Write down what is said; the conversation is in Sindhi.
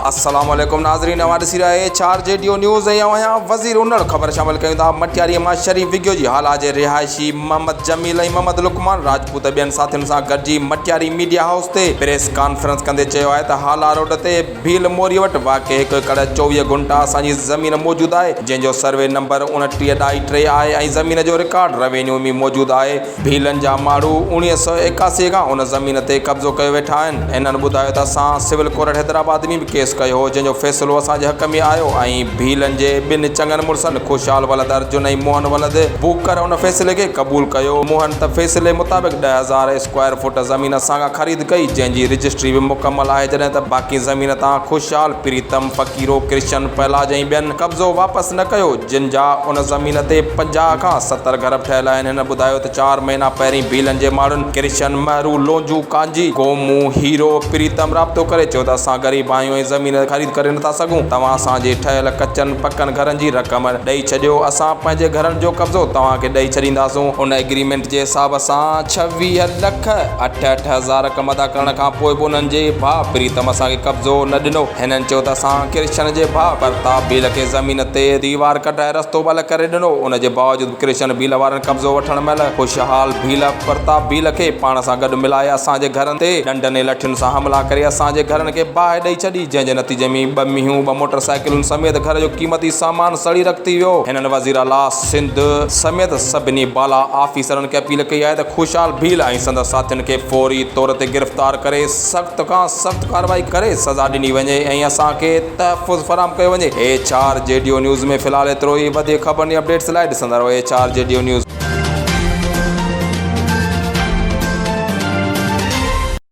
السلام عليڪم ناظرين اوهان ڏسي رهيا اهي چار جي ڊيو نيوز ۽ اوهان آهيان وزير انڙ خبر شامل ڪيون ٿا مٽياري مان شريف وگيو جي هالا جي رهائشي محمد جميل ۽ محمد لقمان راجپوت ٻين ساٿين سان گڏجي مٽياري ميڊيا هائوس تي پريس ڪانفرنس ڪندي چيو آهي ته هالا روڊ تي ڀيل موري وٽ واقع هڪ ايڪڙ چوويهه گهنٽا اسان جي زمين موجود آهي جنهن جو سروي نمبر اوڻٽيهه ڏائي ٽي آهي ۽ زمين جو رڪارڊ روينيو ۾ موجود آهي ڀيلن جا ماڻهو اوڻيهه سؤ ايڪاسي کان ان زمين تي قبضو ڪيو ويٺا آهن. هنن ٻڌايو ته اسان سول ڪورٽ حيدرآباد ۾ به ڪيس ڪيو هو جنهن جو فيصلو اسان جي حق ۾ آيو ۽ ڀيلن جي ٻن چڱن مڙسن خوشحال ولد ارجن ۽ موهن ولد بوڪر ان فيصلي کي قبول ڪيو. موهن ته فيصلي مطابق ڏهه هزار اسڪوائر فوٽ زمين اسان کان خريد ڪئي جنهن جي رجسٽري به مڪمل آهي جڏهن ته باقي زمين تان خوشحال پريتم، فقيرو، ڪرشن، پهلاج ۽ ٻين قبضو واپس نه ڪيو، جن جا ان زمين تي پنجاهه کان ستر گهر به ٺهيل آهن. هن ٻڌايو ته چار مهينا پهرين ڀيلن جي ماڻهن ڪرشن، مهرو، لونجو، ڪانجي، گومو، هيرو، پريتم رابطو ڪري چيو ته اسان غريب آهيون ۽ زمين خريد ڪري نٿا سگهون، توهان اسان جي ٺهيل ڪچن پڪن گهرن جي رقم ڏئي ڇڏيو، اسان پنهنجي گهرن جو قبضو توهان کي ڏئي ڇڏينداسون. ان ايگريمينٽ جي حساب سان ڇويهه لک اٺهٺ هزار رقم ادا ڪرڻ کان پوء به انهن جي ڀاء پريتم اسان کي قبضو نه ڏنو. هنن چيو ته اسان ڪرشن جي ڀاء ڀرتا ڀيل کي زمين تي ديوار ڪڍرائي رستو بل ڪري ڏنو، ان جي باوجود به ڪرشن ڀيل وارن قبضو وٺڻ مهل خوشحال ڀيل پرتاب ڀيل کي پاڻ سان گڏ ملائي اسان جي گهرن تي ڏنڊن ۽ لٺين سان حملا ڪري اسان جي گهرن کي باهه ڏئي ڇڏي جنهن جي نتيجي ۾ ٻه مينهون ٻه موٽر سائيڪلون سميت گهر جو قيمتي سامان سڙي رک ٿي ويو هنن وزيراعليٰ سنڌ سميت سڀني بالا آفيسرن کي اپيل ڪئي آهي ته خوشحال ڀيل ۽ سندس ساٿين کي فوري طور تي گرفتار ڪري سخت کان سخت ڪارروائي ڪري سزا ڏني وڃي ۽ اسان کي تحفظ فراهم ڪيو وڃي ايڇ آر جي ڊيو نيوز ۾ في الحال ايترو ئي وڌيڪ خبرن ۽ اپڊيٽس لاء ڏسندا رهو ايڇ آر جي ڊيو نيوز.